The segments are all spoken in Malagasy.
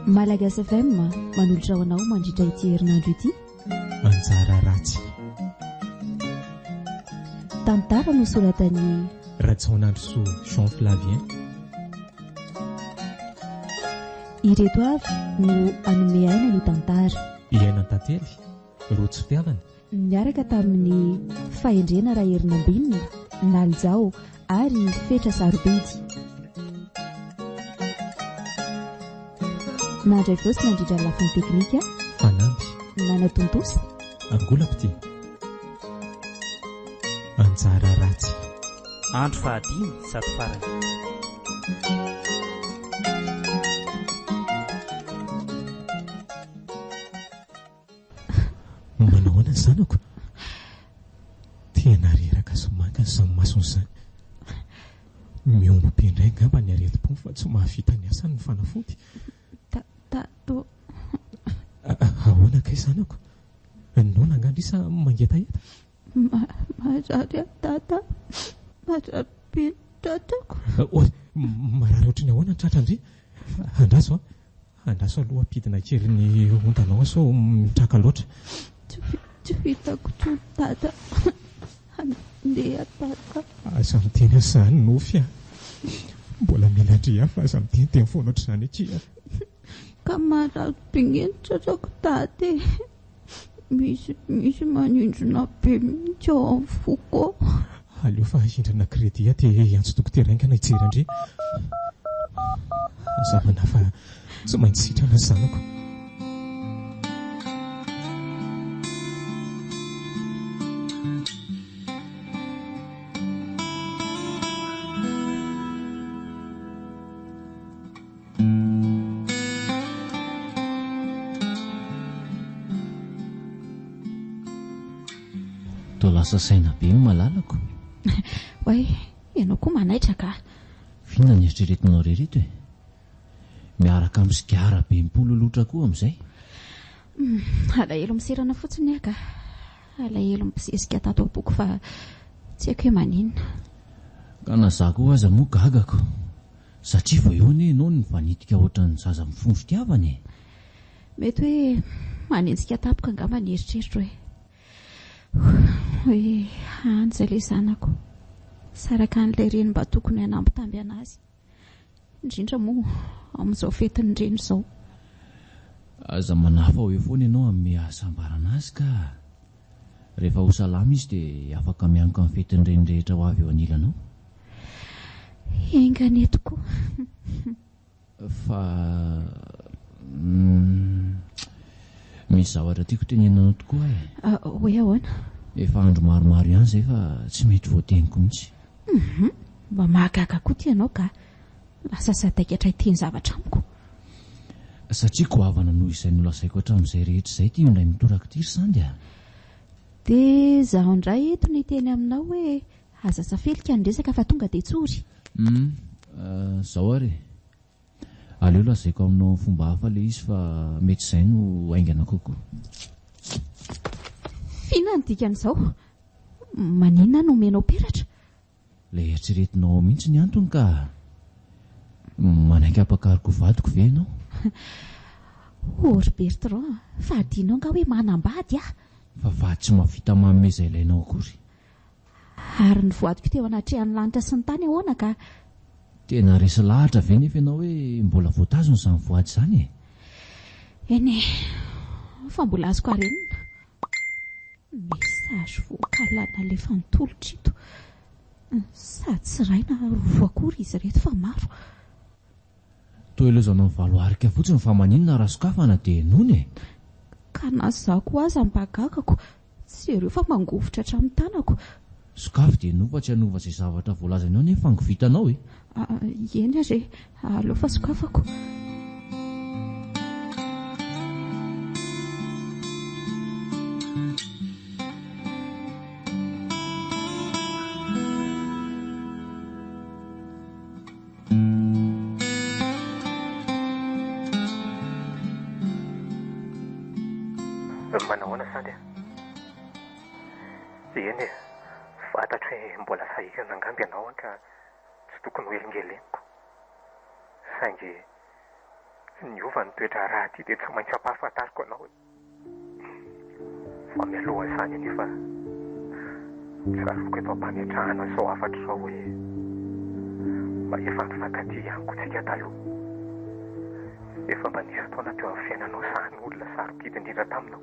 Malagas FM manolotra ho anao mandritra ity herinandro ity. Manjara ratsy. Tantara nosoratan'ny Rajaonandrosoa Jean Flavien. Ireto avy no hanome aina ny tantara. I Aina Tantely, Rojo Mpihavana. Niaraka tamin'ny Fahendrena Raherinambinina, Nalijao, ary Fetra Sarobidy. Mandray voa sy mandrindra ny lafiny teknika. Fanamby. Nanatontosa. Angolam-pitia. Anjara ratsy. Andro fahadimy sady farany. Manao ahoana ny zanako? Tena reraka sy maka ny samy masony izany. Miombom-be indray angamba ny aretim-pony fa tsy mahavita ny asany ny fanafody. Tato. Ahoana kay zanako? Noana angaha ndry sa mangetaheta? Marary aho Tata, marary be ny tratrako. Oay, marary ohatry ny ahoana ny tratrandry? Andraso an! Andraso aloha ampidina kely ny ontanao ao sao mitraka loatra. Tsy vitako intsony Tata, handeha Tata. Aza miteny an'izany Nofy a! Mbola mila an-dry aho fa aza miteniteny foana ohatr'izany akia. Ka marary be ny tratrako Tata e! Misy misy manindrona be mihitsy ao amin'ny foko. Aleo fa ahindrana credit aty ee hiantso dokotera haingana hijery an-dry. Hazavana fa tsy maintsy sitrana ry zanako. Toa lasa saina be ny malalako. Oay, ianao koa manaitra ka. Vina ny eritreretinao rereto e. Miaraka amin'ny sigara be mipololotra koa amin'izay. Hmm, alahelo miserana fotsiny aho ka. Alahelo mibosesika tato am-poko fa tsy haiko hoe maninona. Ka na za koa aza moa gagako. Satria vao eo anie ianao no mifanitika ohatran'ny zaza mifono fitiavana e! Mety hoe manenjika tampoka angamba ny eritreritro e! Hoe hany izay ilay zanako, sy araka an'ilay reny mba tokony hanambitamby an'azy, indrindra moa amin'izao fetin'ny reny izao. Aza manafaho eo foana ianao hanome hasambarana azy ka! Rehefa ho salama izy dia afaka mianoka ny fetin'ny reny rehetra ho avy eo anilanao. Enga ny eto koa. Fa misy zavatra tiako tenenina anao tokoa e. Hoe ahoana? Efa andro maromaro ihany izay fa tsy mety voateniko mihitsy. Mba mahagaga koa ity ianao kah. Lasa sadaikatra ity ny zavatra amiko. Satria goavana noho izay nolazaiko hatramin'izay rehetra izay ity indray mitoraka ity ry Sandy a! Dia izaho indray eto no hiteny aminao hoe aza safelika ny resaka fa tonga dia tsory. Hum, izao ary e! Aleo lazaiko aminao amin'ny fomba hafa ilay izy fa mety izay no haingana kokoa. F'inona no dikan'izao? Maninona no omenao peratra? Ilay eritreretinao ao mihitsy ny antony ka! Manaiky hampakaroka ho vadiko ve ianao? Hoh ry Bertrand, fa adinao angaha hoe manambady aho? Fa vady tsy mahavita manome izay ilainao akory? Ary ny voadiko teo anatrehan'ny lanitra sy ny tany ahoana ka? Tena resy lahatra ve nefa ianao hoe mbola voatazona izany voady izany e? Eny e! Fa mbola azoko arenina. Message vocal nalefany tolotra ito. Sady tsy iray na roa akory izy ireto fa maro. Toa ilaozanao ny valo arika fotsiny fa maninona raha sokafana dia henoina e! Ka na izaho koa aza mba gagako, jereo fa mangovitra hatramin'ny tanako. Sokafy dia nova tsy hanova izay zavatra voalazany ao anie fa ngovitanao e! Ah, eny ary e! Aleo fa sokafako. Eny e, fantatro hoe mbola sahirana angamba ianao an ka tsy tokony ho elingeleniko. Saingy niova ny toe-draharaha ity dia tsy maintsy ampahafantariko anao e. Fa mialohan'izany anefa, tsaroviko eto am-pametrahana an'izao hafatra izao hoe mba efa nifankatia ihany koa tsika taloha. Efa mba nisy fotoana teo amin'ny fiainanao sahan'olona sarobidy indrindra taminao.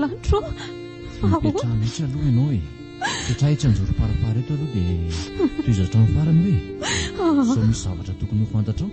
Lanitro ô! Ahoana? Mipetraha mihitsy aloha ianao e! Mipetraha etsy an-jorom-parapara eto aloha dia tohizo hatramin'ny farany hoe ah. sao misy zavatra tokony ho fantatrao.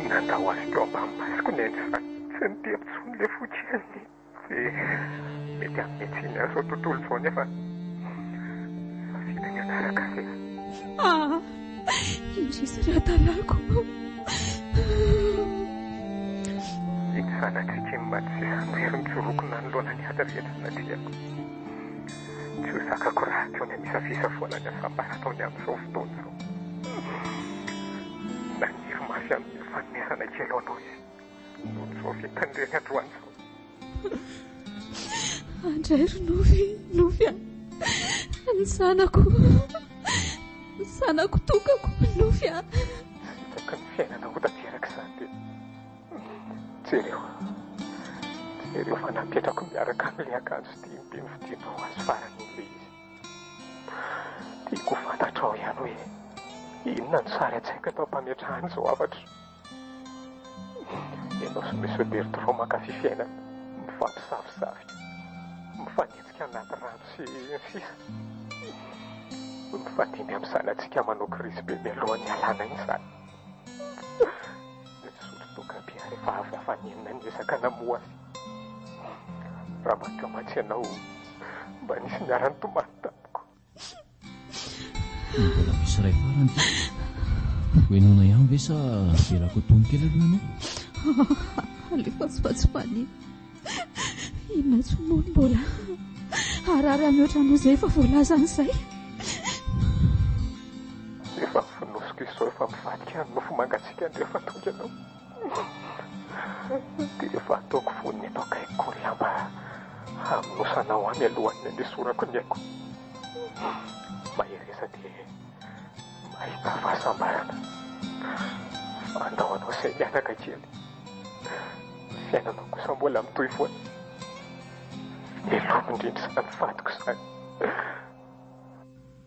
Nandaoaziko ampamasiko ny ainy fa tsy niteny intsony ilay fotsy aniny. Dia mety hanome tsiny ahy izao tontolo izao nefa vita ny anaraka ve? Ah! Indrisy ry Atalako ah! Iny zanatsika iny mantsy sisa miry mitsoroko nanoloana ny ady rehetra natreako. Tsy ho zakako raha teo ny an'isa fisafoana ny asambara ataony amin'izao fotoana izao. Naniry mafy hanome fanomezana kely ho anao izy. Nofy tany irery androany izao. Andray ry Nofy, Nofy a. Ny zanako, ny zanako tokako, Nofy a. Hitako ny fiainana ho tanteraka izany dia. Jereo, jereo fa napetrako miaraka amin'ilay akanjo dimy be novidianao ho azy farany iny ilay izy. Tiako ho fantatrao ihany hoe inona no sary an-tsaiko eto am-pametrahana izao hafatro. Ianao sy Monsieur Bertrand mankafy fiainana mifampisavosavy, mifanenjika anaty rano sy ny sisa Mifandimby amin'ny zanatsika manao krizy be mialohan'ny hialana iny izany Misotro toaka be ary efa avy hafanenina niezaka namoha azy Raha mankamatsy ianao mba nisy niara-nitomany tamiko Mbola misy iray farany ty. Hoenona ihany ve sa avelako atony kely aloha ianao? Alefa tsy fatsipania. Inona tsy moa no mbola harary mihoatra noho izay efa voalazany izay. Efa mifonosika izao, efa mivadika ny nofo mangatsiaka ny rehefa tonga ianao. Dia efa ataoko fony eto akaiky ko ry lamba hamonosanao ahy mialohan'ny andesorako ny aiko. Mahereza dia mahita fahasambarana. Andao anao sahy mianaka kely. Ny fiainanao kosa mbola mitohy foana. Velomy indrindra izany fadiko izany.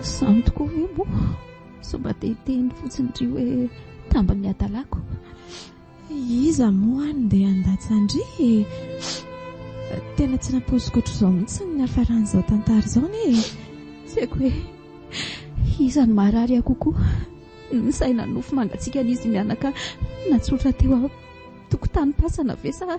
Izany tokoa ve moa? Sao mba te hiteny fotsiny ry hoe tamban'ny hadalako. Iza moa any ndeha handatsa-ndry e? Tena tsy nampoiziko ohatr'izao mihitsy ny niafaran'izao tantara izao anie e. Tsy haiko hoe iza no maharary ahy kokoa, ny saina nofy mangatsiakan'izy mianaka natsotra teo am-tokotanim-pasana ve sa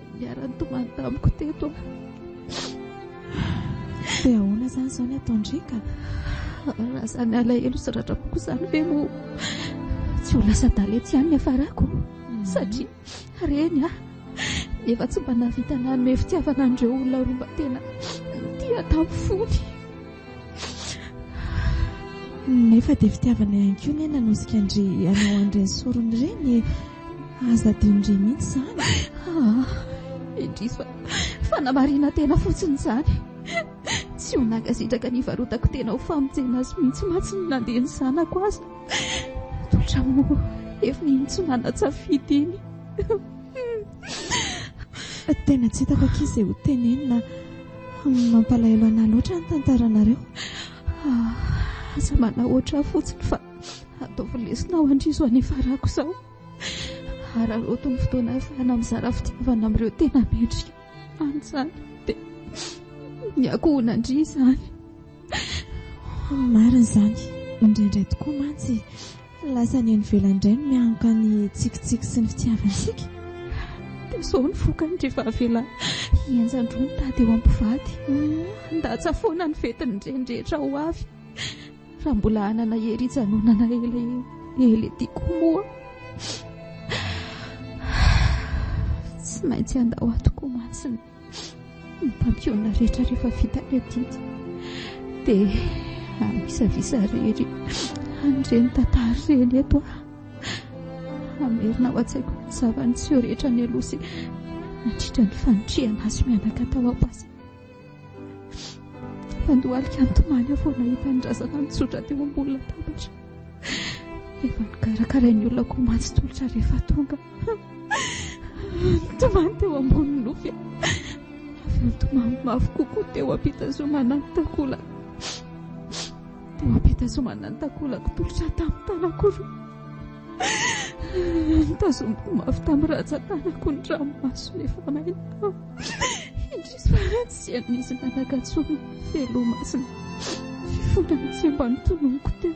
Niara-nitomany tamiko teto aho. Dia ahoana izany izao ny ataon-driaka? Raha izany alahelo sy ratra-poko izany ve moa tsy ho lasa daletsy ihany ny hafarako? Mhm. Satria reny aho efa tsy mba nahavita nanome fitiavana an'ireo olona roa mba tena tia tamin'ny fony. Nefa dia fitiavana ihany koa ny nanosika an-dry anao an'ireny sorony ireny. Aza adinondry mihitsy izany. Ah, indrisy fa namarina tena fotsiny izany. Tsy ho nagasitraka ny varotako tena ho famonjena azy mihitsy mantsy ny nandeha ny zanako aza. Totra moa efa iny tsy manan-tsafidy iny. Tena tsy hitako akia izay ho tenenina. Mampalahelo anà loatra ny tantaranareo. Ah, aza manahoatra ahy fotsiny fa ataovy lesona ho andrizo any farako izao. Hararaoty ny fotoana ahafahana mizara fitiavana amin'ireo tena mendrika any izany. Dia ny akoho ho nandria izany. Marina izany, indraindray tokoa mantsy Ny lasa any ivelany indray no mianoka ny tsikitsiky sy ny fitiavantsika. Dia izao ny vokany rehefa avela hihenjan-droa mitady eo am-pivady. Handatsa foana ny fetin'ireny rehetra ho avy raha mbola hanana hery hijanonana elaela ity koa moa. Tsy maintsy handao ato koa mantsy ny. Ny mpampionona rehetra rehefa vita ny adidy dia amisavisa rery an'ireny tantara ireny eto aho. Hamerina ao an-tsaiko ny zava-niseho rehetra nialoha sy nandritra ny fanitrihana azy mianaka tao am-basy. Fandohalika nitomany aho vao nahita ny razana nitsotra teo ambony latabatra. Efa nokarakarain'ny olona koa mantsy tolotra rehefa tonga. Nitomany teo ambonin'ny nofy aho, avy eo nitomany mafy kokoa teo am-pitazomana ny takolako. Teo am-pitazomana ny takolako, tolotra tamin'ny tanako roa. Nitazomiko mafy tamin'ny ratsan-tanako ny ranomasony efa maina. Indrisy fa tsy an'izy nanaka intsony ny felomasina. Fifonana tsy mba nitononiko teo.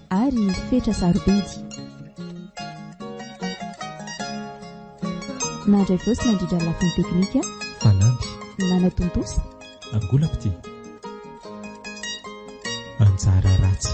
ary fetra sarobidy. Nandray vosa nandrindra ny lafiny teknika. Fanamby. Nanatontosa. Angolapity. Anjara ratsy.